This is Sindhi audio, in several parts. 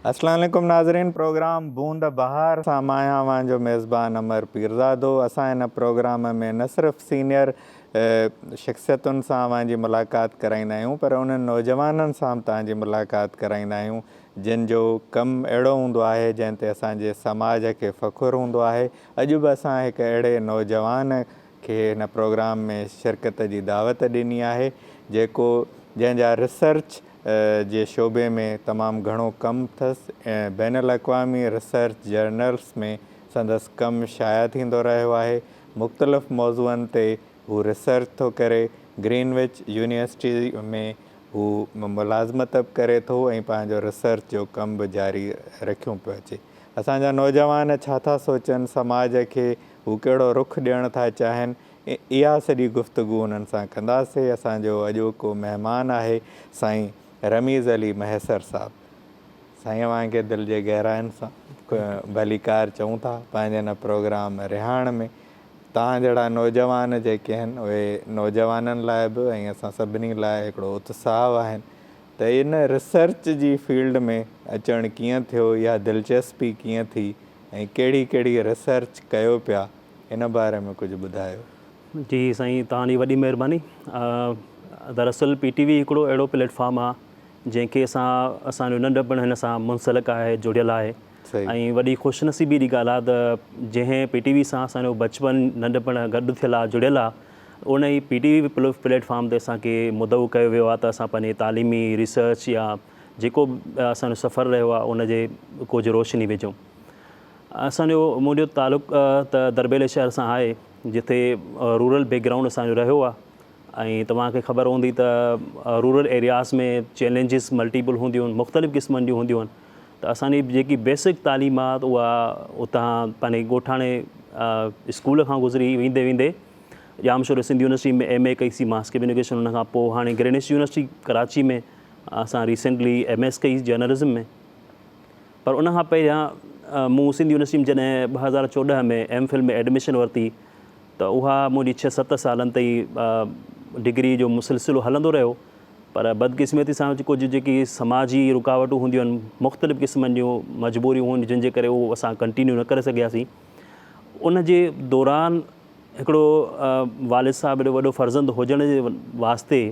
اسلام عليڪم ناظرين پروگرام بوند بهار سان مان آهيان اوهان جو ميزبان امر پيرزادو اسان هن پروگرام ۾ نه صرف سينئر شخصيتن سان اوهان جي ملاقات ڪرائيندا آهيون پر انهن نوجوانن سان به توهان جي ملاقات ڪرائيندا آهيون جن جو ڪم اهڙو هوندو آهي جنهن تي اسان جي سماج کي فخر هوندو آهي اڄ به اسان هڪ اهڙي نوجوان کي هن پروگرام ۾ شرڪت جي دعوت ڏني آهي جيڪو جنهن جا ريسرچ جي شعبي ۾ تمام گهڻو ڪم اٿس ۽ بين الاقوامي ريسرچ جرنلس ۾ سندس ڪم شايع ٿيندو رهيو آهي مختلف موضوعن تي هو ريسرچ ٿو ڪري گرين وچ يونيورسٽي ۾ هو ملازمت به ڪري ٿو ۽ پنهنجو ريسرچ جو ڪم به جاري رکيون پيو اچي اسان جا نوجوان ڇا ٿا سوچن سماج کي هو ڪهڙو رخ ڏيڻ ٿا چاهين، اها سڄي گفتگو انهن سان ڪنداسين. اسان جو اڄوڪو مهمان آهي سائين رميز علي مهيسر صاحب. سائين اوهان کي دل جي گهراين سان ڀليڪار چئون ٿا پنهنجي هن پروگرام رهاڻ ۾. توهان جهڙا نوجوان جيڪي آهن اهي نوجوانن لاء به ۽ اسان سڀني لاء هڪڙو اتساهه آهن ته ان ريسرچ جي فيلڊ ۾ اچڻ ڪيئن ٿيو يا دلچسپي ڪيئن ٿي ۽ ڪهڙي ڪهڙي ريسرچ ڪيو پيا ان باري ۾ ڪجهه ٻڌايو. جي سائين توهان جي وڏي مهرباني دراصل پي ٽي وي هڪڙو اهڙو پليٽ فارم آ جنهن کي اسان اسان جو ننڍپڻ هن سان منسلڪ آهي جڙيل آهي ۽ وڏي خوش نصيبي جي ڳالهه آ ته جنهن پي ٽي وي سان اسان جو بچپڻ ننڍپڻ گڏ ٿيل آ جڙيل آ ان ئي P T V platform تي اسان کي مدعو ڪيو ويو آ ته اسان پنهنجي تعليمي ريسرچ يا جيڪو به اسان جو سفر رهيو آهي ان جي ڪجهه روشني وجهو. اسان جو منهنجو تعلق ته دربيلي شهر سان آهي جتي رورل بيڪ گرائونڊ اسان جو رهيو آهي ۽ توهان کي خبر هوندي ته رورل ايرياز ۾ چئلينجز ملٽيپل هونديون آهن مختلف قسمن جون هونديون آهن ته اسان جي جيڪي بيسڪ تعليم آهي اها اتان پنهنجي ڳوٺاڻي اسڪول کان گذري ويندي ويندي ڄامشوري سنڌ يونيورسٽي ۾ ايم اي ڪئي سي ماس ڪميونيڪيشن ان کان پوء هاڻي گرينس يونيورسٽي ڪراچي ۾ اسان ريسينٽلي ايم ايس ڪئي جرنلزم ۾ پر ان کان پهريان مون سنڌ يونيورسٽي ۾ جڏهن ٻه هزار چوڏهن ۾ ايم فل ۾ ايڊميشن ورتي ته اها منهنجي ڇهه ست سالن تائين ڊگري جو مسلسلو هلندو رهيو پر بدقسمتي سان ڪجهه جيڪي سماجي رڪاوٽون هونديون آهن مختلف قسمن جون مجبوريون هونديون جن جي ڪري اهو اسان ڪنٽينيو نه ڪري سگهياسين ان جي دوران هڪڙو والد صاحب جو وڏو فرزند هجڻ جي واسطي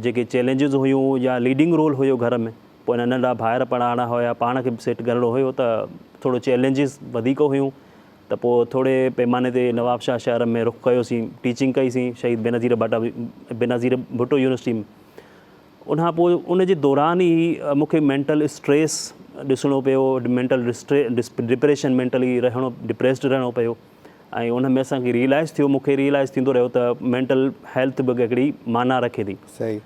جيڪي چئلينجز هيون يا ليڊنگ رول هيو گهر ۾ پوء هن ننڍا ڀائر پڙهائڻا هيا پاڻ کي به سيٽ ڪرڻو هيو ته ٿورو چئلينجز وڌيڪ هيون ته پوء ٿوري پئماني تي نوابشاهه شهر ۾ رخ ڪيو سين ٽيچنگ ڪئي سين شهيد بينظير ڀٽا بينظير ڀٽو يونيورسٽي ۾ ان کان پوء ان جي دوران ئي مون کي مينٽل اسٽريس ڏسڻو پيو مينٽل ڊسٽري ڊپريشن مينٽلي رهڻو ڊپريسڊ رهڻو پيو ۽ ان ۾ اسان کي ريئلائز ٿيو مونکي ريئلائز ٿيندو رهيو ته مينٽل هيلٿ به هڪڙي معنيٰ رکي ٿي صحيح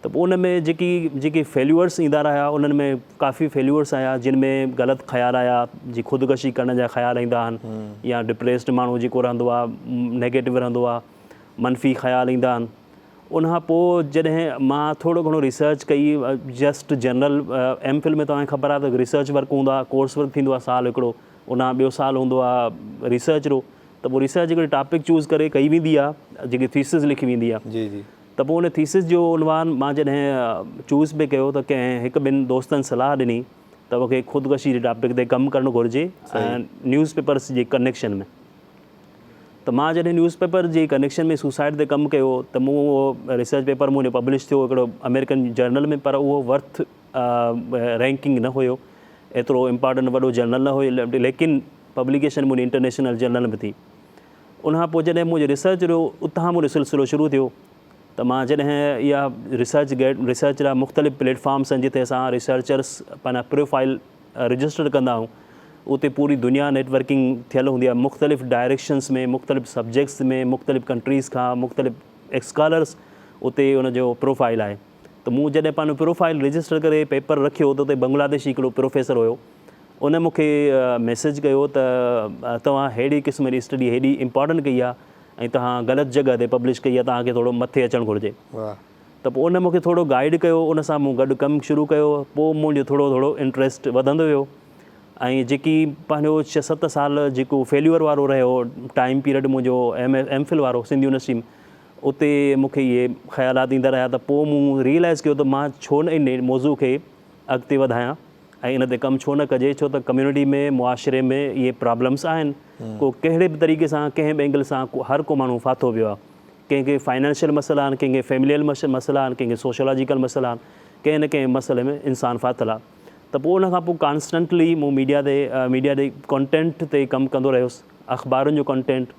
ته پوء ان ۾ جيڪي جيڪي فيليورس ايندا رهيا انهن ۾ ڪافي فيليورس آيا جن ۾ غلط خيال آيا جي خودڪشي ڪرڻ جا خيال ايندا آهن يا ڊپريسڊ ماڻهو جيڪو رهندو آهي نيگيٽو رهندو آهي منفي خيال ايندا آهن ان کان پوء جڏهن مان ٿورو گهڻو ريسرچ ڪئي جسٽ جنرل ايم فل ۾ توهان کي خبر آهي ته ريسرچ ورڪ هوندا ڪورس ورڪ ٿيندو آهي سال هڪڙو ان کان ٻيو سال هوندو آ ريسرچ رو ته پوء ريسرچ هڪڙي ٽاپڪ چوز ڪري ڪئي ويندي آ جيڪي ٿيسز لکي ويندي آ جي جي ته پوء ان ٿيسز جو عنوان مان جڏهن چوز پي ڪيو ته ڪنهن هڪ ٻن دوستن صلاح ڏني ته مونکي خودڪشي جي ٽاپڪ تي ڪم ڪرڻ گهرجي ۽ نيوز پيپرس جي ڪنيڪشن ۾ ته مان جڏهن نيوز پيپر جي ڪنيڪشن ۾ سوسائيڊ تي ڪم ڪيو ته مون اهو ريسرچ پيپر منهنجو پبلش ٿيو هڪڙو امريڪن جرنل ۾ پر اهو ورٿ رينڪنگ نه هيو ايترو امپارٽنٽ وڏو جرنل نه هيو ليڪن پبليڪيشن منهنجي انٽرنيشنل جرنل ۾ ٿي ان کان پوء جڏهن منهنجو ريسرچ جو اتان منهنجو سلسلو شروع ٿيو ته مان جڏهن اها ريسرچ گيٽ ريسرچ لاء مختلف پليٽفارمس آهن جتي اسان ريسرچرس پنهنجا پروفائل رجسٽر ڪندا آهيون اتي پوري دنيا نيٽورڪنگ ٿيل هوندي آهي مختلف ڊائريڪشنس ۾ مختلف سبجيڪٽس ۾ مختلف ڪنٽريز کان مختلف اسڪالرس اتي ان جو پروفائل آهي ته مون جڏهن پنهنجو پروفائيل رجسٽر ڪري پيپر رکيو ته اتي بنگلاديشي هڪڙو پروفيسر هيو ان مون کي ميسيج ڪيو ته توهان ههڙي قسم جي اسٽڊي هيڏي امپارٽنٽ ڪئي آهي ۽ توهان غلط جڳهه تي پبلش ڪئي آهي توهان کي ٿورو مٿي اچڻ گهرجي ته پوء ان مون کي ٿورو گائيڊ ڪيو ان سان مون گڏ ڪم شروع ڪيو پوء منهنجو ٿورو ٿورو انٽريسٽ وڌندو ويو ۽ جيڪي پنهنجو ڇهه ست سال جيڪو فيليور وارو رهيو ٽائيم پيريڊ منهنجو ايم ايم فل وارو سنڌ يونيورسٽي اتي مون کي اهي خيالات ايندا رهيا ته پوء مون ريئلائيز ڪيو ته مان ڇو نه ان موضوع کي اڳتي وڌايان ۽ ان تي ڪم ڇو نه ڪجي ڇو ته ڪميونٽي ۾ معاشري ۾ اهي پرابلمس آهن ڪو ڪهڙي به طريقي سان ڪنهن به اينگل سان هر ڪو ماڻهو ڦاٿو پيو آهي ڪنهن کي فائنانشل مسئلا آهن ڪنهن کي فيمليل مسئلا آهن ڪنهن کي سوشلاجيڪل مسئلا آهن ڪنهن نه ڪنهن مسئلي ۾ انسان ڦاٿل آهي ته پوء ان کان پوء ڪانسٽنٽلي مون ميڊيا تي ميڊيا تي ڪانٽينٽ تي ڪم ڪندو رهيس اخبارن جو ڪانٽينٽ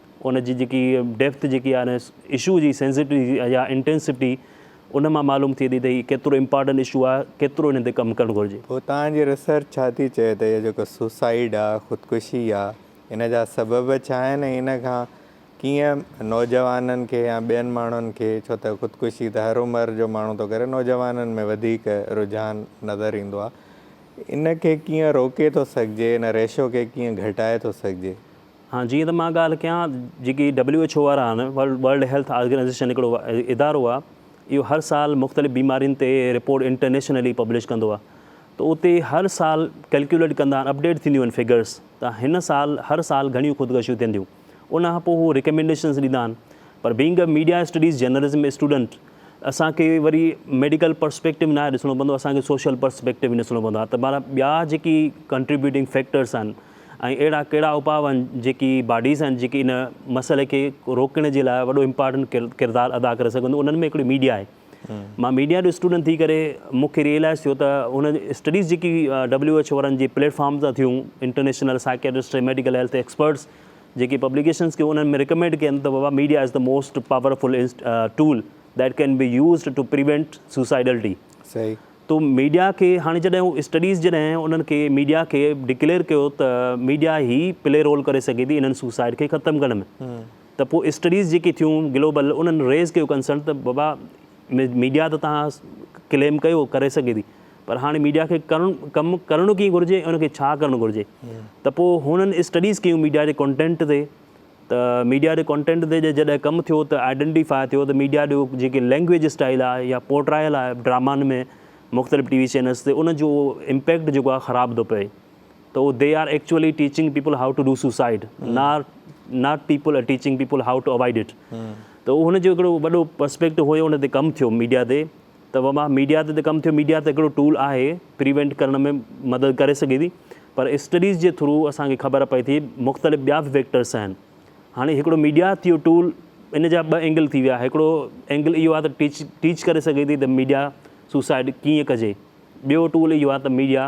ان جي جيڪي ڊيپٿ جيڪي آهي اشو جي سينسٽي يا انٽينسٽي ان مان معلوم ٿئي ٿي ته هي ڪيترو امپارٽنٽ اشو آهي ڪيترو هن تي ڪم ڪرڻ گهرجي. پوء توهان جي ريسرچ ڇا ٿي چئي ته اهو جيڪو سوسائيڊ آهي خودڪشي آهي ان جا سبب ڇا آهن ۽ ان کان ڪيئن نوجوانن کي يا ٻين ماڻهن کي ڇو ته خودڪشي ته هر عمر جو ماڻهو ٿو ڪري نوجوانن ۾ وڌيڪ رجحان نظر ايندو آهي ان کي ڪيئن روڪي ٿو سگهجي ان ريشو کي ڪيئن گهٽائي ٿو سگهجي. هاڻ جيئن ته مان ڳالهه ڪيان جيڪي ڊبليو ايڇ او وارا آهن ورلڊ هيلٿ آرگنائيزيشن هڪڙو ادارو آهي اهو هر سال مختلف بيمارين تي رپورٽ انٽرنيشنلي پبلش ڪندو آهي ته اتي هر سال ڪلڪيوليٽ ڪندا آهن اپڊيٽ ٿينديون آهن فگرس ته هن سال هر سال گهڻيون خودڪشيون ٿين ٿيون ان کان پوء هو ريڪمينڊيشنس ڏيندا آهن پر being a media studies journalism student اسان کي وري ميڊيڪل پرسپيڪٽو ناهي ڏسڻو پوندو اسان کي سوشل پرسپيڪٽو ڏسڻو پوندو آهي ته مانا ٻيا جيڪي ڪنٽريبيوٽنگ فيڪٽرس آهن ۽ اهڙا ڪهڙا اپاء آهن جيڪي باڊيز آهن جيڪي ان مسئلي کي روڪڻ جي لاء وڏو امپارٽنٽ ڪردار ادا ڪري سگهن ٿيون انهن ۾ هڪڙي ميڊيا آهي مان ميڊيا جو اسٽوڊنٽ ٿي ڪري مون کي ريئلائز ٿيو ته هن اسٽڊيز جيڪي ڊبليو ايڇ او وارن جي پليٽ فارم تان ٿيون international psychiatrist medical health experts جيڪي پبليڪيشنس کي انهن ۾ ريڪمينڊ ڪن ته بابا media is the most powerful tool that can be used to prevent suicidality صحيح تو ميڊيا کي هاڻي جڏهن هو اسٽڊيز جڏهن انهن کي ميڊيا کي ڊڪليئر ڪيو ته ميڊيا هي پلي رول ڪري سگهي ٿي انهن سوسائيڊ کي ختم ڪرڻ ۾ ته پوء اسٽڊيز جيڪي ٿيون گلوبل انهن ريز ڪيو ڪنسرن ته بابا ميڊيا ته توهان ڪليم ڪيو ڪري سگهي ٿي پر هاڻي ميڊيا کي ڪرڻ ڪم ڪرڻو ڪيئن گهرجي ان کي ڇا ڪرڻ گهرجي ته پوء هنن اسٽڊيز ڪيون ميڊيا جي ڪنٽينٽ تي ته ميڊيا ڏي ڪنٽينٽ تي جڏهن ڪم ٿيو ته آئيڊينٽي فائي ٿيو ته ميڊيا ڏي جيڪي لينگويج اسٽائل آهي يا پورٽرائل آهي ڊرامن ۾ مختلف ٽي وي چينلس تي ان جو امپيڪٽ جيڪو آهي خراب ٿو پئي ته اهو they are actually teaching people how to do suicide not not people are teaching people how to avoid it ته هن جو هڪڙو وڏو پرسپيڪٽو هيو ان تي ڪم ٿيو ميڊيا تي ته وبا ميڊيا تي ته ڪم ٿيو ميڊيا ته هڪڙو ٽول آهي پريوينٽ ڪرڻ ۾ مدد ڪري سگهي ٿي پر اسٽڊيز جي ٿرو اسان کي خبر پئي ٿي مختلف ٻيا به فيڪٽرس آهن هاڻي هڪڙو ميڊيا ٿيو ٽول ان جا ٻه اينگل ٿي ويا هڪڙو اينگل اهو آهي ته ٽيچ ٽيچ ڪري سگهي ٿي ته ميڊيا سوسائڊ ڪيئن ڪجي ٻيو ٽول اهو آهي ته ميڊيا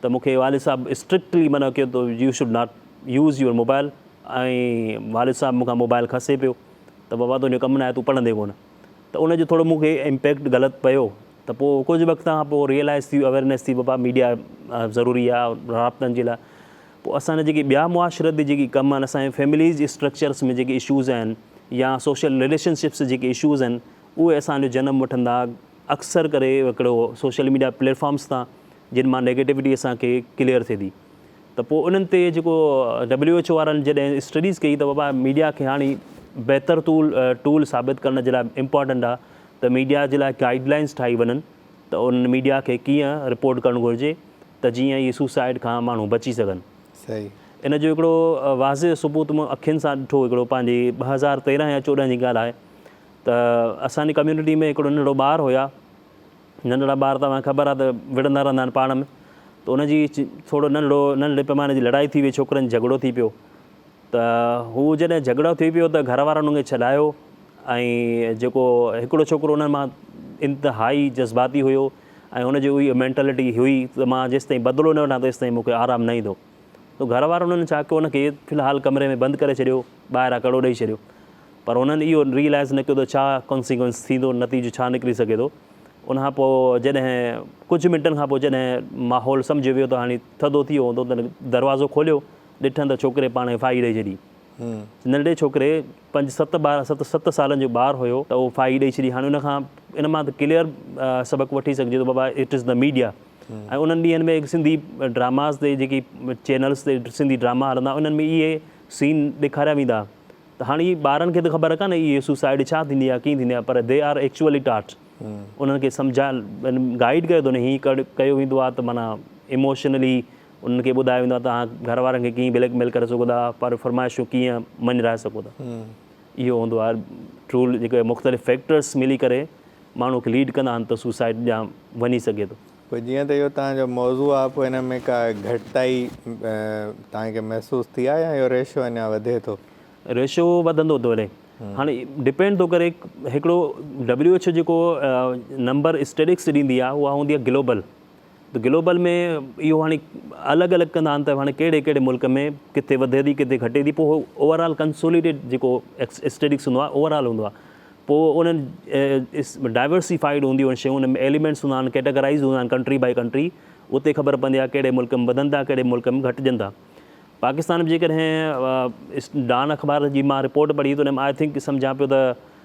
ته مون کي والد صاحب اسٽرڪٽلي منع ڪيو ته you should not use your mobile ۽ والد صاحب مون کان موبائل کسي پيو ته بابا تنهنجو ڪم ناهي تون پڙهندي ڪونه ته ان جو ٿورو مون کي امپيڪٽ غلط پيو ته پوء ڪجهه وقت کان پوء ريئلائز ٿي اويرنيس ٿي بابا ميڊيا ضروري آهي رابطن جي لاء پوء اسان جا جيڪي ٻيا معاشرتي جيڪي ڪم آهن اسان جي فيمليز جي اسٽرڪچرس ۾ جيڪي اشوز آهن يا سوشل رليشنشپس جيڪي اشوز آهن اهي اسان جو جنم وٺندا اڪثر ڪري هڪڙو سوشل ميڊيا پليٽ فارمز تان جن مان نيگيٽوٽي اسان کي ڪليئر ٿئي ٿي ته پوء انهن تي جيڪو ڊبليو ايڇ او وارن جڏهن اسٽڊيز ڪئي ته بابا ميڊيا کي هاڻي بهتر ٽول ٽول ثابت ڪرڻ جي لاء امپورٽنٽ آ ته ميڊيا جي لاء گائيڊ لائنز ٺاهي وڃن ته انهن ميڊيا کي ڪيئن رپورٽ ڪرڻ گهرجي ته جيئن هي سوسائيڊ کان ماڻهو بچي سگهن صحيح ان جو هڪڙو واضح ثبوت مون اکين سان ڏٺو هڪڙو پنهنجي ٻه هزار تيرنهن يا چوڏهن جي ڳالهه آهي ته اسان جي ڪميونٽي ۾ هڪڙو ننڍڙو ٻار هيا ننڍڙا ٻار توهان کي خبر آهي ته وڙهندا رهندا آهن پاڻ ۾ ته ان جي ٿورو ننڍڙو ننڍڙي پيماني جي لڙائي ٿي وئي ڇوڪرن جهڳڙو ٿي پيو ته هو جڏهن جهڳڙو ٿي پيو ته گهر وارن ان کي ڇڏايو ۽ جيڪو هڪڙو ڇوڪرو انهن مان انتهائي جذباتي هيو ۽ ان جي اهي مينٽلٽي هئي ته مان جيستائين بدلو نه وٺان تيستائين مون کي آرام نه ايندو تو گهر وارن هن ڇا ڪيو هن کي في الحال ڪمري ۾ بند ڪري ڇڏيو ٻاهران ڪڙو ڏئي ڇڏيو پر هنن اهو ريئلائز نه ڪيو ته ڇا ڪانسيڪوئنس ٿيندو نتيجو ڇا نڪري سگهي ٿو ان کان پوء جڏهن ڪجهه منٽن کان پوء جڏهن ماحول سمجهيو ويو ته هاڻي ٿڌو ٿي ويو هوندو تڏهن دروازو کوليو ڏٺن ته ڇوڪري پاڻ کي ڦاهي ڏئي ڇڏي ننڍڙي ڇوڪري پنج ست ٻار ست ست سالن جو ٻار هيو ته اهو ڦاهي ڏئي ڇڏي هاڻي ان کان ان مان ته ڪليئر سبق وٺي سگهجي ٿو بابا اٽ از دا ميڊيا ۽ انهن ڏينهن ۾ سنڌي ڊراماز تي جيڪي چينلز تي سنڌي ڊراما هلندا انهن ۾ اهي سين ڏيکاريا ويندا ته هاڻي ٻارن کي ته خبر ڪانهي اهي سوسائيڊ ڇا ٿيندي آهي ڪيئن ٿيندي آهي پر دي آر ايڪچوئلي ٽاٽ انهن کي سمجهايل گائيڊ ڪيو ٿو نه هي ڪيو ويندو آهي ته معنيٰ اموشنلي انهن کي ٻڌايو ويندو آهي ته اوهان گهر وارن کي ڪيئن بليڪ ميل ڪري سگهو ٿا پر فرمائشون ڪيئن مڃرائي سگهو ٿا اهو هوندو آهي رول جيڪي مختلف فيڪٽرس ملي ڪري ماڻهو کي ليڊ ڪندا آهن ته سوسائيڊ ڏانهن وڃي سگهي ٿو. پوء جيئن ته اهو توهان جو موضوع آهي پوء ان ۾ ڪا گهٽتائي توهان کي محسوس ٿي آهي يا اهو ريشو اڃا وڌي ٿو؟ ريشو وڌندو ٿو وڃي هاڻي ڊپينڊ ٿو ڪري هڪڙو WHO جيڪو نمبر اسٽيڊڪس ڏيندي آهي اها هوندي آهي گلوبل. ته گلوبل ۾ اهو هاڻي الڳ الڳ ڪندا آهن ته هاڻي ڪهڙي ڪهڙي ملڪ ۾ ڪٿي وڌي ٿي ڪٿي گهٽي ٿي پوء هو اوور آل ڪنسوليڊيٽ جيڪو اسٽيڊڪس هوندو آهي اوور آل هوندو آهي پوء انهن ڊائورسيفائيڊ هونديون آهن شيون ان ۾ ايليمينٽس هوندا آهن ڪيٽاگرائز هوندا آهن ڪنٽري بائي ڪنٽري اتي خبر پوندي آهي ڪهڙي ملڪ ۾ وڌن ٿا ڪهڙي ملڪ ۾ گهٽجن ٿا پاڪستان جيڪڏهن ڊان اخبار جي مان رپورٽ پڙهي ته ان ۾ آء ٿنڪ سمجهان پيو ته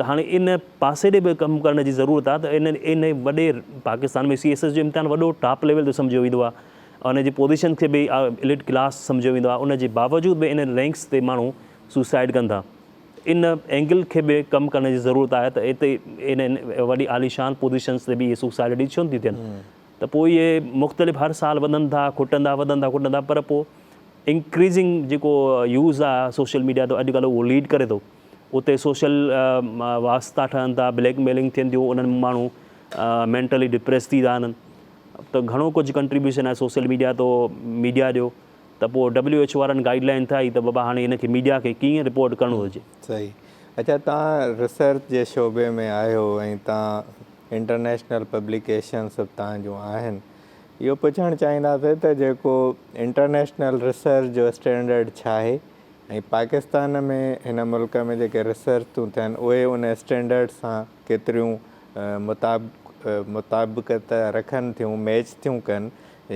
ته هاڻي ان پاسي ڏي به ڪم ڪرڻ جي ضرورت آهي ته ان ان وڏي پاڪستان ۾ سي ايس ايس جو امتحان وڏو ٽاپ ليول تي سمجهيو ويندو آهي ۽ ان جي پوزيشن کي به اليٽ ڪلاس سمجهيو ويندو آهي ان جي باوجود به انهن رينڪس تي ماڻهو سوسائيڊ ڪن ٿا ان اينگل کي به ڪم ڪرڻ جي ضرورت آهي ته اتي انهن وڏي عاليشان پوزيشنس تي به اهي سوسائيڊ ڏي ڇو نٿي ٿين ته پوء اهي مختلف هر سال وڌن ٿا کٽن ٿا وڌن ٿا کٽن ٿا پر پوء انڪريزنگ جيڪو يوز آهي سوشل ميڊيا تي اڄ ڪلهه اهو ليڊ ڪري ٿو اتي سوشل واسطا ٺهن ٿا بليڪ ميلنگ ٿين ٿيون انهن ماڻهو مينٽلي ڊپريس ٿي ٿا وڃن ته گهڻو ڪجهه ڪنٽريبيوشن آهي سوشل ميڊيا تو ميڊيا جو ته پوء ڊبليو ايچ او وارن گائيڊ لائن ٺاهي ته بابا هاڻي هن کي ميڊيا کي ڪيئن رپورٽ ڪرڻو هجي صحيح اچا تان ريسرچ جي شعبي ۾ آهيو ۽ تان انٽرنيشنل پبليڪيشنز اتان جون آهن. اهو پڇڻ چاهينداسين ته جيڪو انٽرنيشنل ريسرچ جو اسٽينڊرڊ ڇاهي ۽ پاڪستان ۾ هن ملڪ ۾ جيڪي ريسرچ ٿيون ٿين اهي ان اسٽينڊرڊ سان ڪيتريون مطابقت رکن ٿيون، ميچ ٿيون ڪن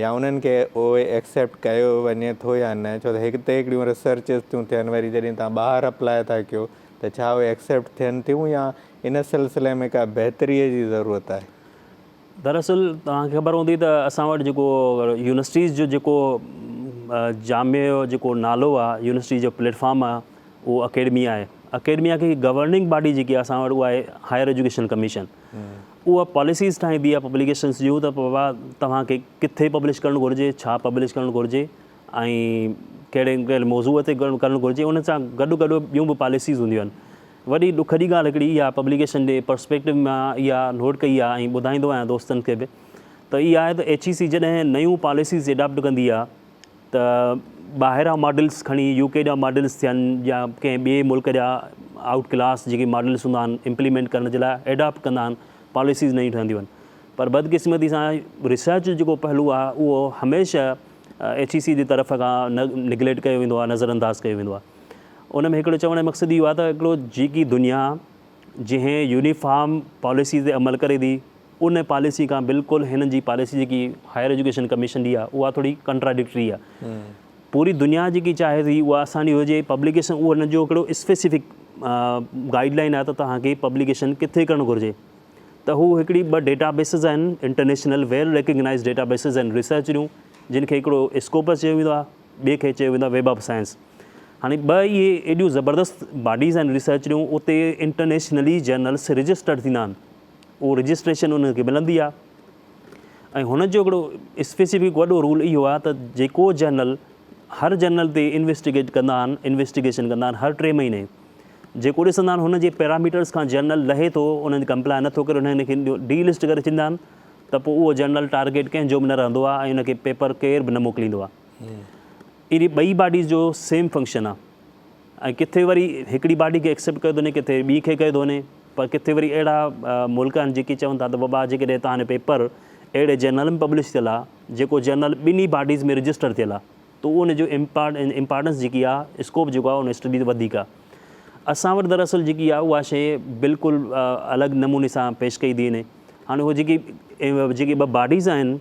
يا انهن کي اهي ايڪسيپٽ ڪيو وڃي ٿو يا نه ڇو ته هتي هڪڙيون ريسرچز ٿيون ٿين وري جڏهن تان ٻاهر اپلاء ٿا ڪيو ته ڇا اهي ايڪسيپٽ ٿين ٿيون يا ان سلسلي ۾ ڪا بهتريء جي ضرورت آهي. دراصل توهان کي خبر هوندي ته اسان وٽ جيڪو يونيورسٽيز جو جيڪو جامع جو جيڪو نالو آ يونيورسٽي جو پليٽ فارم آ اهو اڪيڊميا آهي اڪيڊميا کي گورننگ باڊي جيڪي اسان وٽ اها آهي هائر ايجوڪيشن ڪميشن اها پاليسيز ٺاهيندي آ پبليڪيشنز جون ته بابا توهان کي ڪٿي پبلش ڪرڻ گهرجي ڇا پبلش ڪرڻ گهرجي ۽ ڪهڙي ڪهڙي موضوع تي ڪرڻ گهرجي ان سان گڏ گڏ ٻيون به پاليسيز هونديون آهن وڏي ڏک جي ڳالهه هڪڙي اها پبليڪيشن جي پرسپيڪٽو مان اها نوٽ ڪئي آهي ۽ ٻڌائيندو آهيان دوستن کي به ته اها آهي ته ايڇ اي سي جڏهن نيون پاليسيز اڊاپٽ ڪندي آهي ته ٻاهران ماڊلز کڻي يو ڪي جا ماڊلز ٿين يا ڪنهن ٻئي ملڪ جا آئوٽ ڪلاس جيڪي ماڊلز هوندا آهن امپليمينٽ ڪرڻ جي لاء اڊاپٽ ڪندا آهن پاليسيز نيون ٺهنديون آهن پر بدقسمتي سان ريسرچ جو جيڪو پهلو آهي اهو هميشه ايڇ اي سي جي طرف کان نگليڪٽ ڪيو ويندو آهي نظرانداز ڪيو ويندو آهي ان ۾ هڪڙو چوڻ جو مقصد اهو آهي ته هڪڙو جيڪي دنيا جنهن يونيفارم پاليسي تي عمل ڪري ٿي ان پاليسي کان بلڪل هنن جي پاليسي جيڪي هائر ايجوڪيشن ڪميشن جي آهي اها ٿوري ڪنٽراڊڪٽري آهي پوري دنيا جيڪي چاهي ٿي اها اسان جي هجي پبليڪيشن اهو هن جو هڪڙو اسپيسفڪ گائيڊ لائن آهي ته توهان کي پبليڪيشن ڪٿي ڪرڻ گهرجي ته هو هڪڙي ٻه ڊيٽا بيسز آهن international well recognise data bases آهن ريسرچ جون جن کي هڪڙو اسڪوپس چيو ويندو آهي ٻئي کي چيو ويندو آهي ويب آف سائنس. هاڻي ٻه اهي ايڏيون زبردست باڊيز آهن ريسرچريون اتي انٽرنيشنلي جرنلس رجسٽرڊ ٿيندا آهن اهو رجسٽريشن انهن کي ملندي آهي ۽ هن جو هڪڙو اسپيسيفڪ وڏو رول اهو آهي ته جيڪو جرنل هر جرنل تي انويسٽيگيٽ ڪندا آهن انويسٽيگيشن ڪندا آهن هر ٽي مهيني جيڪو ڏسندا آهن هن جي پيراميٽرس کان جرنل لهي ٿو انهن کي ڪمپلائي نٿو ڪري انهن کي ڊي لسٽ ڪري ڇڏيندا آهن ته پوء اهو جنرل ٽارگيٽ ڪنهن جو به نه رهندو آهي ۽ ان کي پيپر ڪير به نه موڪليندو آهي. اهڙي ٻئي باڊيز جو سيم فنڪشن آهي ۽ ڪٿي وري هڪڙي باڊي کي ايڪسيپٽ ڪيو ٿو وڃي ڪٿي ٻي کي ڪيو ٿو وڃي پر ڪٿي وري اهڙا ملڪ آهن جيڪي چون ٿا ته بابا جيڪڏهن هتان هاڻي پيپر اهڙي جرنل ۾ پبلش ٿيل آهي جيڪو جرنل ٻنهي باڊيز ۾ رجسٽر ٿيل آهي تو ان جو امپارٽنس جيڪي آ اسڪوپ جيڪو آ ان اسٽڊي تي وڌيڪ آ اسان وٽ دراصل جيڪي آ اها شيء بلڪل الڳ نموني سان پيش ڪئي ڊي اين اي هاڻي اهي جيڪي جيڪي ٻه باڊيز آهن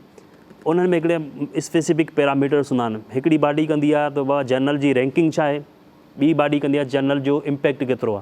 انهن ۾ هڪڙي اسپيسفڪ پيرامیٽرس هوندا آهن هڪڙي باڊي ڪندي آ ته اها جرنل جي رينڪنگ ڇا آهي ٻي باڊي ڪندي آ جرنل جو امپيڪٽ ڪيترو آ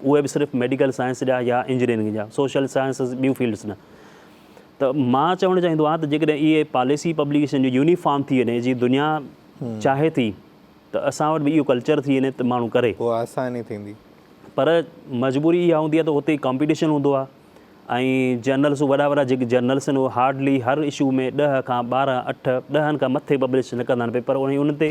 اهي به صرف ميڊيڪل سائنس جا يا انجنيئرنگ جا سوشل سائنسز ٻيون فيلڊس نه ته مان چوڻ چاهيندو آهيان ته جيڪڏهن اهي پاليسي پبليڪيشن جو يونيفارم ٿي وڃي جي دنيا چاهي ٿي ته اسان وٽ به اهو ڪلچر ٿي وڃي ته ماڻهو ڪري اها آساني ٿيندي. پر مجبوري اها هوندي آهي ته اتي ڪامپيٽيشن هوندو آهي ۽ جرنلس وڏا وڏا جيڪي جرنلس آهن اهي هارڊلي هر اشو ۾ ڏهه کان ٻارهن اٺ ڏهن کان مٿي پبلش نه ڪندا آهن پيپر ۽ ان تي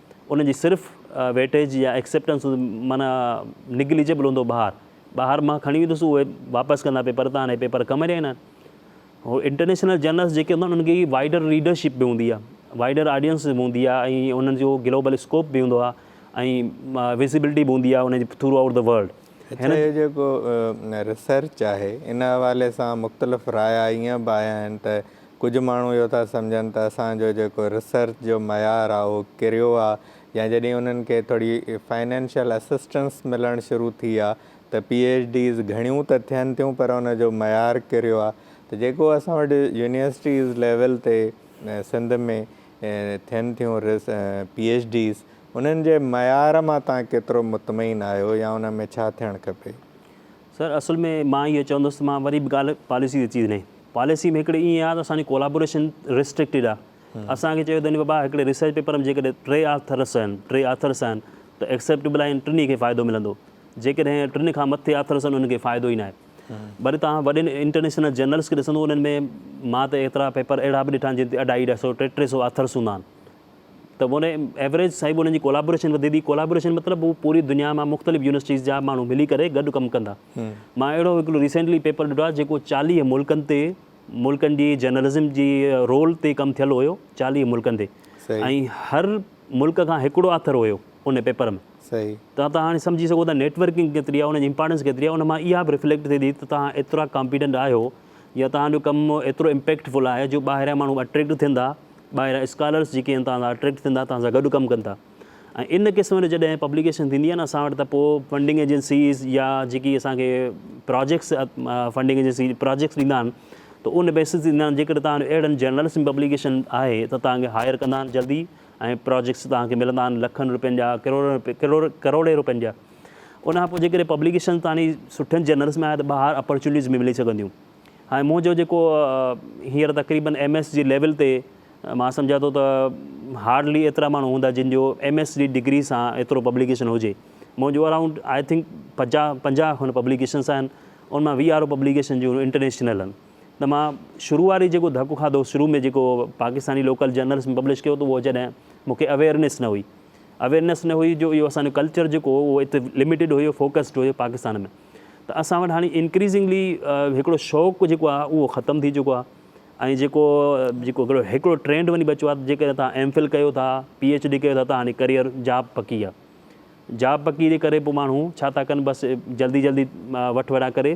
ان جي صرف ويٽيج يا ايڪسيپٽنس هوندي معنيٰ نگليجبل هوندو ٻاهر ٻاهر مان کڻي ويندس اهي واپس ڪندا پيپر تان اهي پيپر ڪم رهينا آهن هو انٽرنيشنل جرنلس جيڪي هوندا انهن کي وائڊر ريڊرشپ به هوندي آهي وائڊر آڊينس به هوندي آهي ۽ انهن جو گلوبل اسڪوپ به هوندو آهي ۽ وزيبلٽي به هوندي آهي ان جي ٿرو آئوٽ دي ورلڊ اچا هي جيڪو ريسرچ آهي ان حوالي سان مختلف رايا ائين به آيا آهن ته ڪجهه ماڻهو اهو ٿا سمجهن ته اسان جو جيڪو ريسرچ جو معيار آهي اهو ڪريو آهي يا جڏهن انهن کي ٿوري فنانشل اسسٽنس ملڻ شروع ٿي آهي ته پي ايڇ ڊيز گهڻيون ته ٿين ٿيون پر ان جو معيار ڪريو آهي ته جيڪو اسان وٽ يونيورسٽيز ليول تي سنڌ ۾ ٿين ٿيون پي ايڇ ڊيز انهن جي معيار مان تان ڪيترو مطمئن آهيو يا ان ۾ ڇا ٿيڻ کپي سر اصل ۾ مان اهو چوندس ته مان وري به ڳالهه پاليسي تي ٿي وڃي. پاليسي ۾ هڪڙي ائين آهي ته اسان جي ڪولابوريشن ريسٽرڪٽيڊ آهي. اسان کي چيو ويندو بابا هڪڙي ريسرچ پيپر ۾ جيڪڏهن ٽي آٿرس آهن، ٽي آٿرس آهن ته ايڪسيپٽيبل آهن ٽنهي کي فائدو ملندو. جيڪڏهن ٽن کان مٿي آٿرس آهن انهن کي فائدو ئي ناهي. وري توهان وڏين انٽرنيشنل جرنلز کي ڏسندو انهن ۾ مان ته ايترا پيپر اهڙا به ڏٺا آهن جن تي اڍائي اڍائي سئو ٽي ٽي سئو آٿرس هوندا آهن. ته ان ايوريج صاحب انهن جي ڪولابوريشن وڌي ٿي ڪولابوريشن مطلب هو پوري دنيا مان مختلف يونيورسٽيز جا ماڻهو ملي ڪري گڏ ڪم ڪندا مان اهڙو هڪڙو ريسينٽلي پيپر ڏٺو آهي جيڪو چاليهه ملڪن تي ملڪن جي جرنلزم جي رول تي ڪم ٿيل هيو چاليهه ملڪن تي ۽ هر ملڪ کان هڪڙو آٿر هيو ان پيپر ۾ ته تون هاڻي سمجهي سگهو ته نيٽورڪنگ ڪيتري آهي ان جي امپارٽنس ڪيتري آهي ان مان اها به ريفليڪٽ ٿئي ٿي ته تون ايترا ڪامپيٽنٽ آهيو يا توهان جو ڪم ايترو امپيڪٽ فل آهي جو ٻاهريان ماڻهو اٽريڪٽ ٿين ٿا، ٻاهريان اسڪالرس جيڪي آهن توهان سان اٽريڪٽ ٿين ٿا، توهان سان گڏ ڪم ڪن ٿا ۽ ان قسم جو جڏهن پبليڪيشن ٿيندي آهي نه اسان وٽ ته پوء فنڊنگ ايجنسيز يا جيڪي اسان کي پراجيڪٽس فنڊنگ ايجنسي پراجيڪٽس ڏيندا آهن ته ان بيسس تي ڏيندا آهن جيڪڏهن توهان جو اهڙن جرنلس ۾ پبليڪيشن آهي ته توهان کي هائر ڪندا آهن جلدي ۽ پراجيڪٽس توهان کي ملندا آهن لکن روپين جا، ڪروڙين روپين جا. ان کان پوء جيڪڏهن پبليڪيشنز تاڻي سٺن جرنلز ۾ آيا ته ٻاهر اپرچونيٽيز به ملي سگهنديون. هاڻي منهنجو جيڪو هينئر تقريبن ايم ايس جي ليول تي مان سمجهان ٿو ته هارڊلي ايترا ماڻهو هوندا جن جو ايم ايس جي ڊگري سان ايترو پبليڪيشن هجي. منهنجون اراونڊ آء ٿنڪ پنجاهه پنجاهه کن پبليڪيشنز آهن ان مان ويهه آر او پبليڪيشن جون انٽرنيشنل آهن ته مان شروع واري جيڪو ڌڪ کاڌو شروع ۾ جيڪو پاڪستاني لوڪل جرنلز ۾ پبلش ڪيو ته اهو جڏهن مون کي اويئرنيس نه هئي اويئرنيس نه هئي جو اهو اسان جو ڪلچر جيڪو هو اهو اتي لميٽيڊ هيو فوڪسڊ هيو پاڪستان ۾ ته اسان وٽ هاڻي انڪريزنگلي هڪڙو شوق جيڪو آهي اهو ختم ٿي چڪو آهي ۽ جيڪو جيڪو هڪڙو ٽرينڊ وڃي بچو آهي جيڪڏهن تان ايم فل ڪيو ٿا پي ايڇ ڊي ڪيو ٿا ته هاڻي ڪريئر جاب پڪي آهي جاب پڪي جي ڪري پوء ماڻهو ڇا ٿا ڪن بس جلدي جلدي وٺ وڙهان ڪري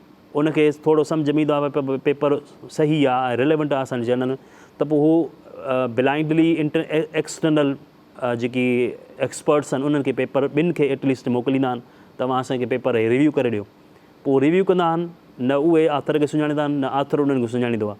ان کي ٿورو سمجهه ۾ ايندو آهي ته پيپر صحيح آهي ۽ ريليونٽ آهي اسان جي جنرل ۾ ته پوء هو بلائنڊلي ايڪسٽرنل جيڪي ايڪسپرٽس آهن انهن کي پيپر ٻن کي ايٽ ليسٽ موڪليندا آهن ته اوهان اسان کي پيپر هي ريويو ڪري ڏيو پوء ريويو ڪندا آهن نه اهي آٿر کي سڃاڻيندا آهن نه آٿر انهن کي سڃاڻيندو آهي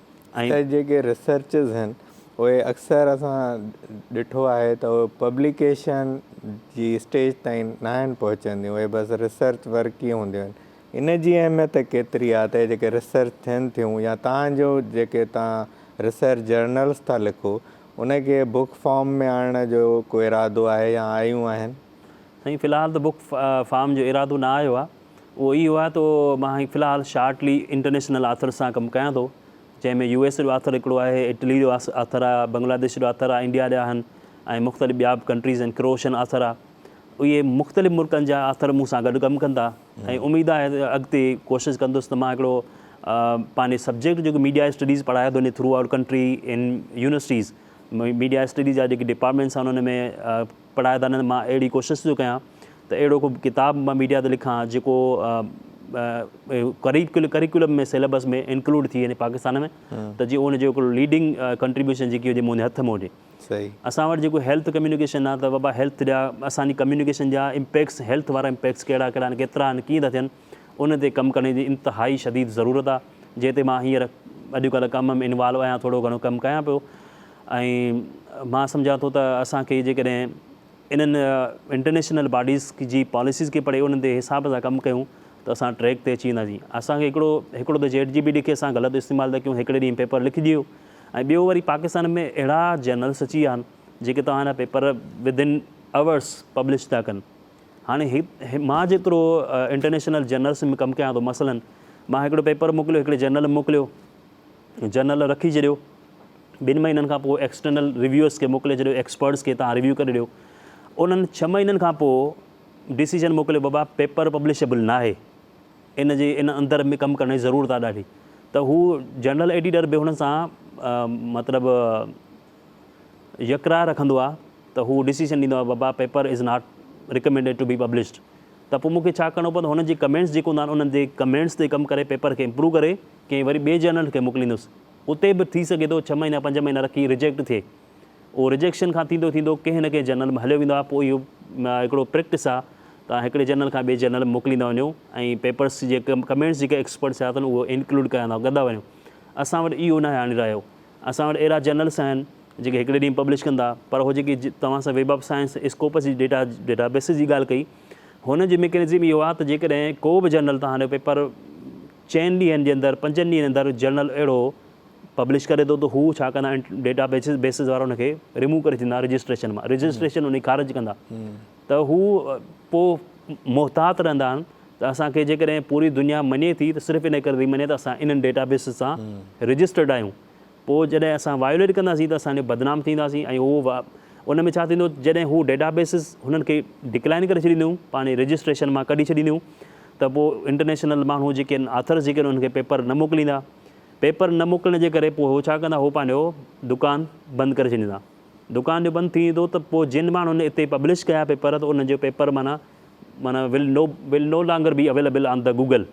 ۽ ته جيڪي ريسرچز آهن اهي اڪثر اسان ڏٺو آهي ته اهي پبليڪيشن جي اسٽيج تائين ناهن پهچنديون اهي بس ريسرچ ورڪ ئي هونديون آهن ان جي اهميت ڪيتري آهي ته جيڪي ريسرچ ٿين ٿيون يا تان جو جيڪي تان ريسرچ جرنلز ٿا لکو ان کي بوڪ فارم ۾ آڻڻ جو ڪو ارادو آهي يا آيون آهن؟ سائين في الحال ته بوڪ فارم جو ارادو نه آيو آهي. اهو ئي آهي ته مان هي في الحال شارٽلي انٽرنيشنل آٿرز سان ڪم ڪيان ٿو جنهن ۾ يو ايس جو آٿر هڪڙو آهي، اٽلي جو آٿر آهي، بنگلاديش جو آٿر آهي، انڊيا جا آهن ۽ مختلف ٻيا به ڪنٽريز آهن، ڪروشن آٿر آهي. اهي مختلف ملڪن جا آٿر مون سان گڏ ڪم ڪندا ۽ اميد آهي ته اڳتي ڪوشش ڪندس ته مان هڪڙو پنهنجي سبجيڪٽ جيڪو ميڊيا اسٽڊيز پڙهايو ٿو وڃي throughout country in universities media studies جا جيڪي ڊپارٽمينٽس آهن ان ۾ پڙهائيدارن مان اهڙي ڪوشش ٿو ڪيان ته اهڙو ڪو ڪتاب مان ميڊيا تي لکان جيڪو ڪريڪولم ۾ سيليبس ۾ انڪلوڊ ٿي وڃي پاڪستان ۾ ته جي ان جو هڪڙو ليڊنگ ڪنٽريبيوشن جيڪي هجي منهنجي هٿ ۾ هجي اسان وٽ جيڪو هيلٿ ڪميونيڪيشن آهي ته بابا هيلٿ جا اسان جي ڪميونيڪيشن جا امپيڪس هيلٿ وارا امپيڪس ڪهڙا ڪهڙا آهن ڪيترا آهن ڪيئن ٿا ٿين ان تي ڪم ڪرڻ جي انتهائي شديد ضرورت آهي جنهن تي مان هينئر اڄڪلهه ڪم ۾ انوالو آهيان ٿورو گهڻو ڪم ڪيان پيو ۽ مان سمجهان ٿو ته اسان کي جيڪڏهن انهن انٽرنيشنل باڊيز جي پاليسيز کي پڙهي انهن تي حساب سان ڪم ڪيون ته اسان ٽريڪ تي اچي وينداسين. اسان کي هڪڙو هڪڙو ته چيٽ جي پي ٽي کي اسان غلط استعمال ٿا ڪيون هڪڙي ڏينهن پيپر لکي ڏيو ۽ ٻيو وري پاڪستان ۾ اهڙا جرنلس اچي ويا آهن جيڪي توهان جا پيپر ودن اورس پبلش ٿا ڪن هاڻي مان جيترو انٽرنيشنل جرنلس ۾ ڪم ڪيان ٿو مثلا مان هڪڙو پيپر موڪليو هڪڙي جرنل ۾ موڪليو جرنل رکي ڇڏيو ٻن مهينن کان پوء ايڪسٽرنل ريويورز کي موڪلي ڇڏيو ايڪسپرٽس کي تان ريويو ڪري ڏيو انهن ڇهه مهينن کان پوء ڊيسيجن موڪليو بابا پيپر پبلشبل ناهي ان جي ان اندر ۾ ڪم ڪرڻ جي ضرورت آهي ڏاڍي ته هو جنرل ايڊيٽر به هن سان مطلب يڪرا رکندو آهي ته هو ڊيسيجن ڏيندو آهي بابا paper is not recommended to be published ته پوء مونکي ڇا ڪرڻو پوندو هن جي ڪمينٽس جيڪو هوندا آهن انهن جي ڪمينٽس تي ڪم ڪري پيپر کي امپروو ڪري ڪنهن وري ٻئي جرنل کي موڪليندس اتي به ٿي سگهي ٿو ڇهه مهينا پنج مهينا رکي ريجيڪٽ ٿئي اهو ريجيڪشن کان ٿيندو ٿيندو ڪنهن نه ڪنهن جنرل ۾ هليو ويندو آهي پوء اهو هڪڙو پريڪٽس آهي ته هڪڙي جنرل کان ٻئي جنرل ۾ موڪليندا وڃو ۽ پيپرس جي ڪمينٽس جيڪي ايڪسپرٽس ٿيا اٿن اهو انڪلوڊ ڪياندا ڪندا وڃو اسان وٽ اهو ناهي هاڻي رهيو اسان وٽ اهڙا جنرلس آهن جيڪي هڪڙي ڏينهن پبلش ڪندا پر اهو جيڪي توهان سان ويب آف سائنس اسڪوپس جي ڊيٽا ڊيٽابيسز جي ڳالهه ڪئي هن جي ميڪنزم اهو آهي ته جيڪڏهن ڪو به جنرل توهان جو پيپر چئن ڏينهن جي اندر پنجن ڏينهن اندر جرنل اهڙو پبلش ڪري ٿو ته هو ڇا ڪندا ڊيٽا بيسز وارا ان کي ريموو ڪري ڇڏيندا رجسٽريشن مان رجسٽريشن ان جي خارج ڪندا ته هو پو محتاط رهندا آهن ته اسان کي جيڪڏهن پوري دنيا مڃي ٿي ته صرف ان ڪري ٿي مڃي ته اسان انهن ڊيٽا بيسز سان رجسٽرڊ آهيون پو جڏهن اسان وايوليٽ ڪنداسين ته اسان جو بدنام ٿينداسين ۽ هو ان ۾ ڇا ٿيندو جڏهن هو ڊيٽا بيسز هنن کي ڊڪلائن ڪري ڇڏينديون پاڻ رجسٽريشن مان ڪڍي ڇڏينديون ته پوء انٽرنيشنل ماڻهو جيڪي آهن آٿرز جيڪي آهن انهن کي پيپر نه موڪليندا پيپر نه موڪلڻ جي ڪري پوء هو ڇا ڪندا هو پنهنجو دڪان بند ڪري ڇڏيندا دڪان جو بند ٿي ويندو ته پوء جن ماڻهن اتي پبلش ڪيا پيپر ته انهن جو پيپر معنيٰ معنيٰ will no will no longer be available on ته گوگل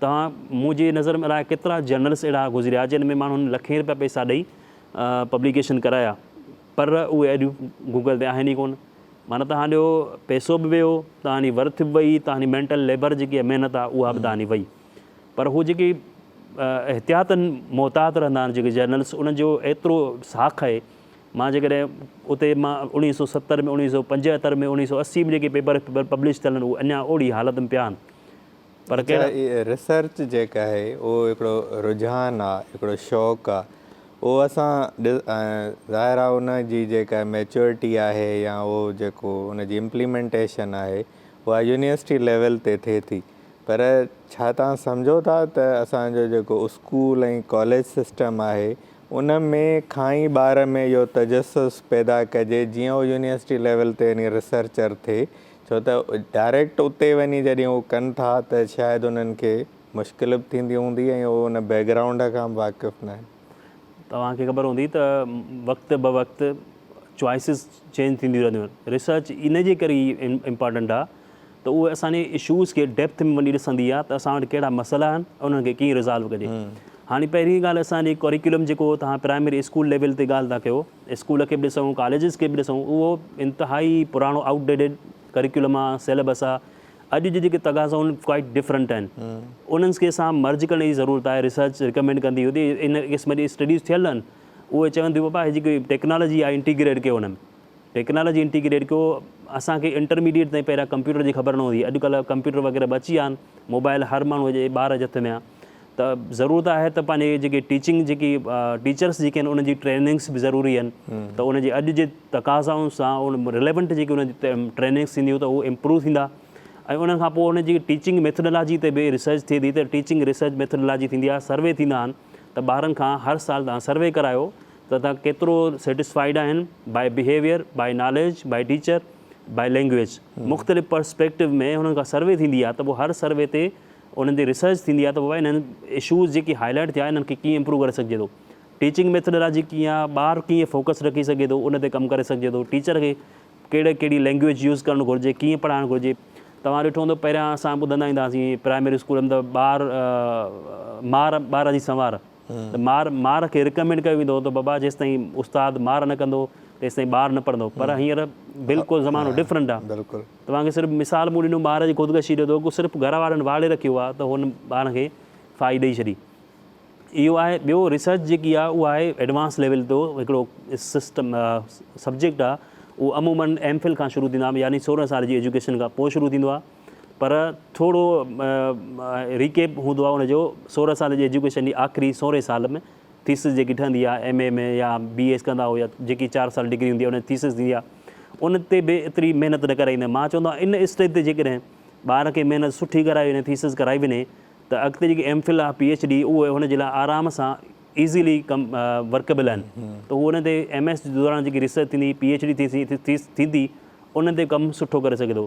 توهان منهنجي نظر ۾ الاء ڪيترا جرنلس اهڙا گذريا جن ۾ ماڻهن لکين رپيا پئسا ڏئي پبليڪيشن ڪرايا پر اهي ايڊيون گوگل تي آهن ئي ڪونه. معنيٰ توهان جو پئسو به ويو، توهان جي ورٿ به وئي، توهان جي مينٽل ليبر جيڪي آهي محنت آهي اها به توهان جي وئي. پر هو جيڪي احتياطن محتاط رهندا آهن جيڪي جرنلس انهن جو ايترو ساک آهي. مان جيڪڏهن اتي مان اوڻيهه سؤ ستر ۾ اوڻيهه سؤ پنجهتر ۾ اوڻيهه سؤ اسي ۾ جيڪي پيپر پبلش ٿيل آهن اهي اڃا اوڙي حالت ۾ پيا آهن. پر ڪهڙا؟ ريسرچ جيڪا آهي اهو هڪڙو رجحان آ هڪڙو شوق آ اهو اسان ظاهر آ ان جي جيڪا ميچورٽي آهي يا اهو جيڪو ان جي امپليمينٽيشن آهي اها يونيورسٽي ليول تي ٿئي ٿي پر ڇا توهان سمجهو ٿا ته اسان جو جيڪو اسڪول ۽ ڪاليج سسٽم آهي ان ۾ کان ئي ٻار ۾ اهو تجسس پيدا ڪجي جيئن اهو يونيورسٽي ليول تي يعني ريسرچر ٿئي ڇو ته ڊائريڪٽ اتي وڃي جڏهن هو ڪن ٿا ته شايد انهن کي مشڪل به ٿيندي هوندي ۽ هو ان بيڪ گرائونڊ کان به واقف ناهن. توهان کي خبر هوندي ته وقت به وقت چوائسز چينج ٿينديون رهنديون آهن. ريسرچ ان جي ڪري ئي امپارٽنٽ آهي ته اهو اسان جي اشوز کي ڊيپٿ ۾ وڃي ڏسندي آهي ته اسان وٽ ڪهڙا مسئلا آهن ۽ انهن کي ڪيئن ريزالو ڪجي. هاڻي پهرين ڳالهه اسان جي ڪريڪولم جيڪو توهان پرائمري اسڪول ليول تي ڳالهه ٿا ڪيو. اسڪول کي به ڏسون، ڪاليجز کي به ڏسون، اهو انتهائي پراڻو آئوٽ ڊيڊڊ ڪريڪولم آ، سيليبس آ. اڄ جي جيڪي تقاضا آهن اهي ڪوائيٽ ڊفرنٽ آهن. انهن کي سان مرج ڪرڻ جي ضرورت آهي. ريسرچ ريڪمينڊ ڪندي هوندي، ان قسم جي اسٽڊيز ٿيل آهن. اهي چون ٿيون بابا هي جيڪي ٽيڪنالاجي آهي انٽيگريٽ ڪيو هن ۾. ٽيڪنالاجي انٽيگريٽ ڪيو، اسان کي انٽرميڊيئيٽ تائين پهريان ڪمپيوٽر جي خبر نه هوندي هئي. اڄ ڪلهه ڪمپيوٽر وغيره به اچي ويا آهن. موبائل هر ماڻهوء جي ٻار جي هٿ ۾ آ. ته ضرورت آهي ته پنهنجي جيڪي ٽيچنگ جيڪي ٽيچرس جيڪي آهن انهن جي ٽريننگس به ضروري آهن ته ان جي اڄ جي تقاضائن سان ان ريليونٽ جيڪي ان جي ٽريننگس ٿينديون ته هو امپروو ٿيندا ۽ انهن کان پوء ان جي ٽيچنگ ميٿڊالاجي تي به ريسرچ ٿئي ٿي ته ٽيچنگ ريسرچ ميٿڊالاجي ٿيندي آهي سروي ٿيندا آهن ته ٻارن کان هر سال تان سروي ڪرايو ته تان ڪيترو سيٽسفائيڊ آهن by behaviour by knowledge by teacher by language مختلف پرسپيڪٽو ۾ هنن کان سروي ٿيندي آهي ته پوء هر سروي تي انهن تي ريسرچ ٿيندي آهي ته بابا انهن اشوز جيڪي هاء لائيٽ ٿيا انهن کي ڪيئن امپروو ڪري سگهجي ٿو. ٽيچنگ ميٿڊالاجي ڪيئن آهي، ٻار ڪيئن فوڪس رکي سگهي ٿو ان تي ڪم ڪري سگهجي ٿو. ٽيچر کي ڪهڙي ڪهڙي لينگويج يوز ڪرڻ گهرجي، ڪيئن پڙهائڻ گهرجي. توهان ڏٺو هوندو پهريان اسان ٻڌندا ايندا هئاسين پرائمري اسڪول ۾ ته ٻار مار ٻار جي سنوار. مار مار کي رڪمينڊ ڪيو ويندو هو ته بابا جيستائين استاد مار نه ڪندو تيستائين ٻار نه پڙهندو پر هينئر بلڪل زمانو ڊفرنٽ آ توهان کي صرف مثال مون ڏنو ٻار جي خودڪشي جو تو صرف گهر وارن واڙي رکيو آ ته هن ٻارن کي ڦاهي ڏئي ڇڏي اهو آهي ٻيو ريسرچ جيڪي آ اها آهي ايڊوانس ليول تو هڪڙو سسٽم سبجيڪٽ آ اهو عمومن ايم فل کان شروع ٿيندو آ يعني سورهن سال جي ايجوڪيشن کان پوء شروع ٿيندو آ پر ٿورو ريڪيپ هوندو آهي ان جو سورهن سال جي ايجوڪيشن جي آخري سورهين سال ۾ ٿيسز جيڪي ٺهندي آهي ايم اي ۾ يا بي ايس ڪندا هو يا جيڪي چار سال ڊگري هوندي آهي ان ٿيسز ٿيندي آهي ان تي به ايتري محنت نه ڪرائيندا آهن مان چوندو آهيان ان اسٽيج تي جيڪڏهن ٻار کي محنت سٺي ڪرائي وڃي ٿيسز ڪرائي وڃي ته اڳتي جيڪي ايم فل آهي پي ايڇ ڊي اهي هن جي لاء آرام سان ايزيلي ڪم ورڪبل آهن ته هو ان تي ايم ايس جي دوران جيڪي ريسرچ ٿيندي پي ايڇ ڊي ٿيندي ان تي ڪم سٺو ڪري سگهي ٿو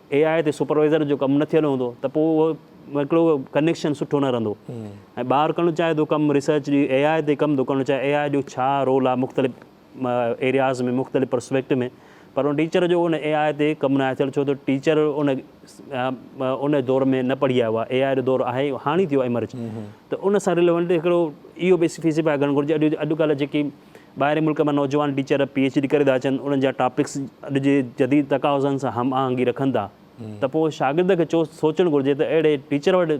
اي آء تي سپروائيزر جو ڪم نه ٿيل هوندو ته پوء اهو هڪڙو ڪنيڪشن سٺو نه رهندو ۽ ٻار ڪرڻ چاهي ٿو ڪم ريسرچ جي اي آء تي ڪم ٿو ڪرڻ چاهي اي آء جو ڇا رول آهي مختلف ايرياز ۾ مختلف پرسپيڪٽ ۾ پر ان ٽيچر جو ان اي آء تي ڪم نه آهي ٿيل ڇو ته ٽيچر ان ان دور ۾ نه پڙهي آيو آهي اي آء جو دور آهي هاڻي ٿيو ايمرج ته ان سان رليونٽ هڪڙو اهو به فيسي پاء ڪرڻ گهرجي اڄ اڄڪلهه جيڪي ٻاهرين ملڪ مان نوجوان ٽيچر پي ايڇ ڊي ڪري ٿا اچن، انهن جا ٽاپڪس اڄ جي جديد تقاضن سان هم آهنگي رکن ٿا ته پوء شاگرد کي چوس سوچڻ گهرجي ته اهڙي ٽيچر وٽ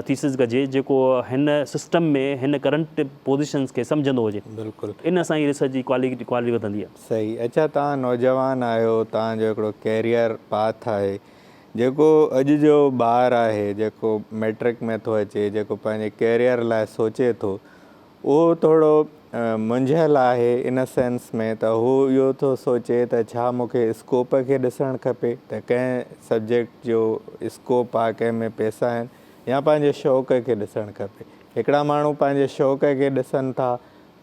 ٿيسز ڪجي جيڪو هن سسٽم ۾ هن ڪرنٽ پوزيشنز کي سمجهندو هجي. بلڪل. ان سان ئي ريسرچ جي ڪوالٽي وڌندي. صحيح. اڇا توهان نوجوان آهيو، توهان جو هڪڙو ڪيريئر پاٿ آهي، جيڪو اڄ جو ٻار آهي، جيڪو مئٽرڪ ۾ ٿو اچي، جيڪو پنهنجي ڪيريئر لاء سوچي ٿو، اهو ٿورو منجهيل آهي ان سينس ۾ ته هو اهو ٿو سوچي ته ڇا مون کي اسڪوپ کي ڏسڻ کپي ته ڪنهن سبجيڪٽ جو اسڪوپ آهي ڪنهن ۾ پئسا آهن يا پنهنجي شوق کي ڏسڻ کپي. هڪڙا ماڻهو پنهنجي شوق کي ڏسن ٿا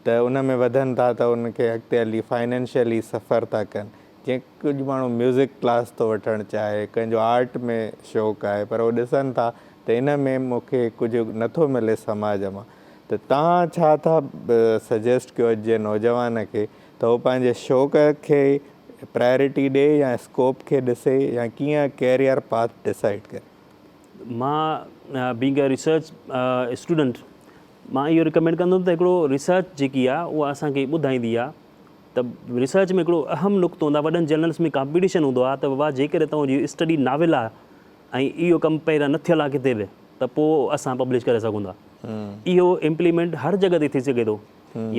ته ان ۾ وڌن ٿا ته ان کي اڳتي هلي فائنينشلي سفر ٿا ڪن جيئن ڪجهه ماڻهو ميوزڪ ڪلاس ٿو وٺڻ چاهي ڪنهن جو آرٽ ۾ شوق آهي پر هو ڏسن ٿا ته ان ۾ مون کي ڪجهه نٿو ملي سماج مان ته توهان ڇا ٿا سجيسٽ ڪيو اڄ جي نوجوان کي ته هو پنهنجي شوق کي پرائرٽي ڏي يا اسڪوپ کي ڏسي يا ڪيئن ڪيريئر پاٿ ڊسائيڊ ڪري؟ مان بينگ اي ريسرچ اسٽوڊنٽ مان اهو رڪمينڊ ڪندم ته هڪڙو ريسرچ جيڪي آهي اها اسان کي ٻڌائيندي آهي ته ريسرچ ۾ هڪڙو اهم نقطو هوندو آهي وڏن جرنلس ۾ ڪامپيٽيشن هوندو آهي ته بابا جيڪڏهن توهان جي اسٽڊي ناول آهي ۽ اهو ڪم پهريان نه ٿيل آهي ڪٿي به ته پوء اسان پبلش ڪري سگهون ٿا اهو امپليمينٽ هر جڳهه تي ٿي سگهي ٿو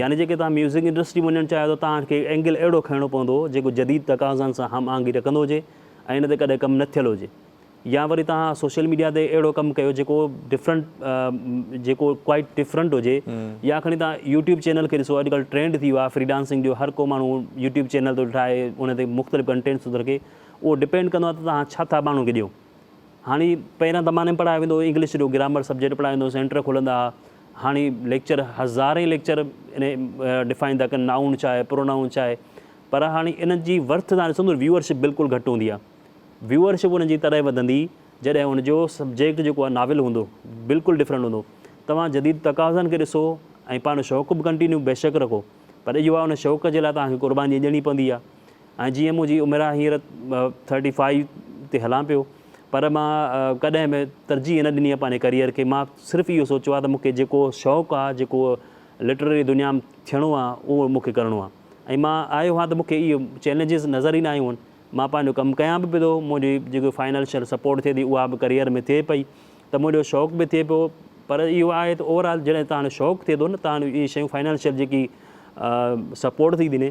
يعني جيڪي توهان ميوزڪ انڊسٽري وڃڻ چاهيو ٿا توهان کي اينگل اهڙو کڻڻو پوندو جيڪو جديد تقاضائن سان هم آهنگي رکندو هجي ۽ ان تي ڪڏهن ڪم نه ٿيل هجي يا وري توهان سوشل ميڊيا تي اهڙو ڪم ڪيو جيڪو ڊفرنٽ جيڪو ڪوائٽ ڊفرنٽ هجي يا کڻي توهان يوٽيوب چينل کي ڏسو اڄڪلهه ٽرينڊ ٿي ويو آهي فري ڊانسنگ جو هر ڪو ماڻهو يوٽيوب چينل ٿو ٺاهي ان تي مختلف ڪنٽينٽس ٿو رکي اهو ڊپينڊ ڪندو آهي ته توهان ڇا ٿا ماڻهن کي ڏيو. هاڻي پهريان زماني ۾ پڙهايو ويندو هو انگلش جو گرامر سبجيڪٽ پڙهايو ويندو هو سينٽر کلندا ها هاڻي ليڪچر هزارين ليڪچر انهي ڊفائن ٿا ڪن نائون ڇا آهي پرونائون ڇا آهي پر هاڻي انهن جي ورٿ تان ڏسندو ويور شپ بلڪل گهٽ هوندي آهي ويور شپ انهن جي تڏهن وڌندي جڏهن ان جو سبجيڪٽ جيڪو آهي ناول هوندو بلڪل ڊفرنٽ هوندو توهان جديد تقاضن کي ڏسو ۽ پنهنجو شوق به ڪنٽينيو بيشڪ رکو پر اهو آهي ان شوق جي لاء توهان کي قرباني ڏيڻي پوندي آهي ۽ جيئن منهنجي عمر آهي هينئر ٿرٽي فائيو تي هلان پيو پر مان ڪڏهن به ترجيح نه ڏني آهي پنهنجي ڪريئر کي مان صرف اهو سوچيو آهي ته مون کي جيڪو شوق آهي جيڪو لٽرري دنيا ۾ ٿيڻو آهي اهو مون کي ڪرڻو آهي ۽ مان آيو آهيان ته مون کي اهي چئلينجز نظر ئي نه آيون آهن مان پنهنجو ڪم ڪيان به پيو منهنجي جيڪو فائنانشل سپورٽ ٿئي ٿي اها به ڪريئر ۾ ٿئي پئي ته منهنجو شوق به ٿئي پيو پر اهو آهي ته اوور آل جڏهن تهانجو شوق ٿئي ٿو نه تهانجو اهي شيون فائنانشل جيڪي سپورٽ ٿي ڏني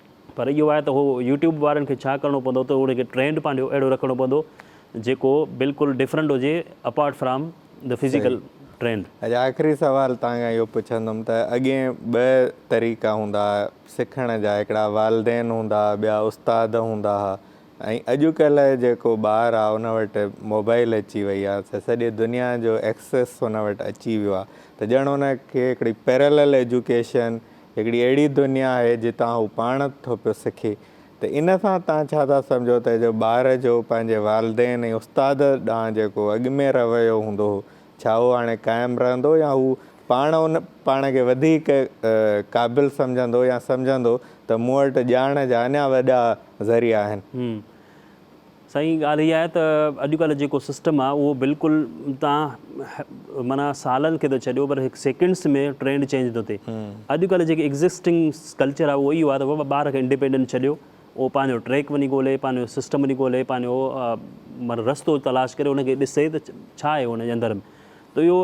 پر اهو آهي ته هو يوٽيوب وارن کي ڇا ڪرڻو پوندو ته ان کي ٽرينڊ پنهنجو اهڙو رکڻو پوندو جيڪو بلڪل ڊفرنٽ هجي apart from the physical trend. اچا آخري سوال تان کان اهو پڇندم ته اڳين ٻه طريقا هوندا ها سکڻ جا هڪڙا والدين هوندا ها ٻيا استاد هوندا ها ۽ اڄڪلهه جيڪو ٻار آهي ان وٽ موبائل اچي وئي آهي ته سڄي دنيا جو ايڪسيس ان وٽ اچي ويو آهي ته ڄڻ ان کي هڪڙي پيرلل ايجوڪيشن هڪڙي اهڙي دنيا آهي جتان هو پاڻ ٿو پيو سکي ته ان سان توهان ڇا ٿا سمجهو ته جو ٻار جو پنهنجي والدين ۽ استاد ڏانهن جيڪو اڳ ۾ رويو هوندو هو ڇا اهو هاڻي قائم رهندو يا هو پاڻ ان پاڻ کي وڌيڪ قابل سمجهندو يا سمجهندو ته مون وٽ ڄاڻ جا اڃا وڏا ذريعا آهن. سائين ڳالهه اها آهي ته اڄڪلهه جيڪو سسٽم آهي اهو بلڪل تان معنيٰ سالن کي ٿو ڇڏيو پر هڪ سيڪنڊس ۾ ٽرينڊ چينج ٿو ٿئي اڄڪلهه جيڪي ايگزسٽنگ ڪلچر آهي اهو اهو آهي ته بابا ٻار کي انڊيپينڊنٽ ڇڏيو اهو پنهنجو ٽريڪ وڃي ڳولي پنهنجو سسٽم وڃي ڳولي پنهنجو معنيٰ رستو تلاش ڪري ان کي ڏسي ته ڇا آهي ان جي اندر ۾ ته اهو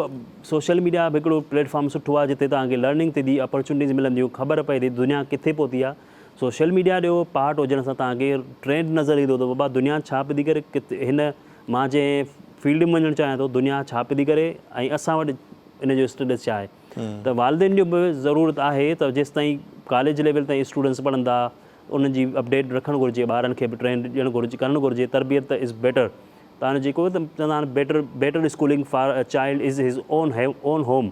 سوشل ميڊيا به هڪڙو پليٽ فارم سٺو آهي جتي تهان کي لرننگ ٿي ٿي اپرچونٽيز ملنديون خبر پئي ٿي دنيا ڪٿي پهتي آهي سوشل ميڊيا ڏيو پارٽ هجڻ سان توهان کي ٽرينڊ نظر ايندو ته بابا دنيا ڇا پئي ٿي ڪري ڪٿي هن مان جنهن فيلڊ ۾ وڃڻ چاهيان ٿو دنيا ڇا پئي ٿي ڪري ۽ اسان وٽ ان جو اسٽيٽس ڇا آهي ته والدين جو به ضرورت آهي ته جيستائين ڪاليج ليول تائين اسٽوڊنٽس پڙهندا انهن جي اپڊيٽ رکڻ گهرجي ٻارن کي به ٽرينڊ ڏيڻ گهرجي ڪرڻ گهرجي تربيت ته از بيٽر تان جيڪو چوندا آهن better better schooling for child is his own have own home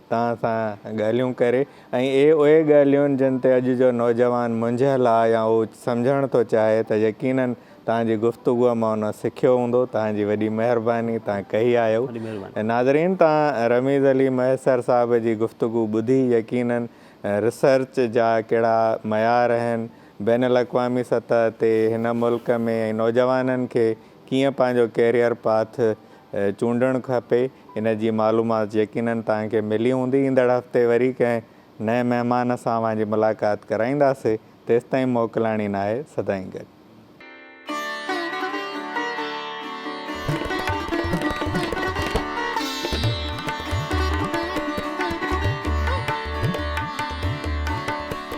توهان سان ڳالهيون ڪري ۽ اهي اهي ڳالهيون جن تي اڄ جو نوجوان منجهيل آ يا هو سمجهڻ ٿو چاهي ته يقينن توهان جي گفتگوء مان ان سکيو هوندو توهان جي وڏي مهرباني توهان ڪهي آهيو وڏي مهرباني. ناظرين توهان رميز علي مهيسر صاحب جي گفتگو ٻڌي يقينن ريسرچ جا ڪهڙا معيار اهن بين الاقوامي سطح تي هن ملڪ ۾ ۽ نوجوانن کي ڪيئن پنهنجو ڪيريئر پاٿ چونڊڻ کپي ان جي معلومات يقينن توهان کي ملي هوندي. ايندڙ هفتي وري ڪنهن نئين مهمان سان اوهان جي ملاقات ڪرائينداسي تيستائين موڪلاڻي ناهي سدائين گڏ.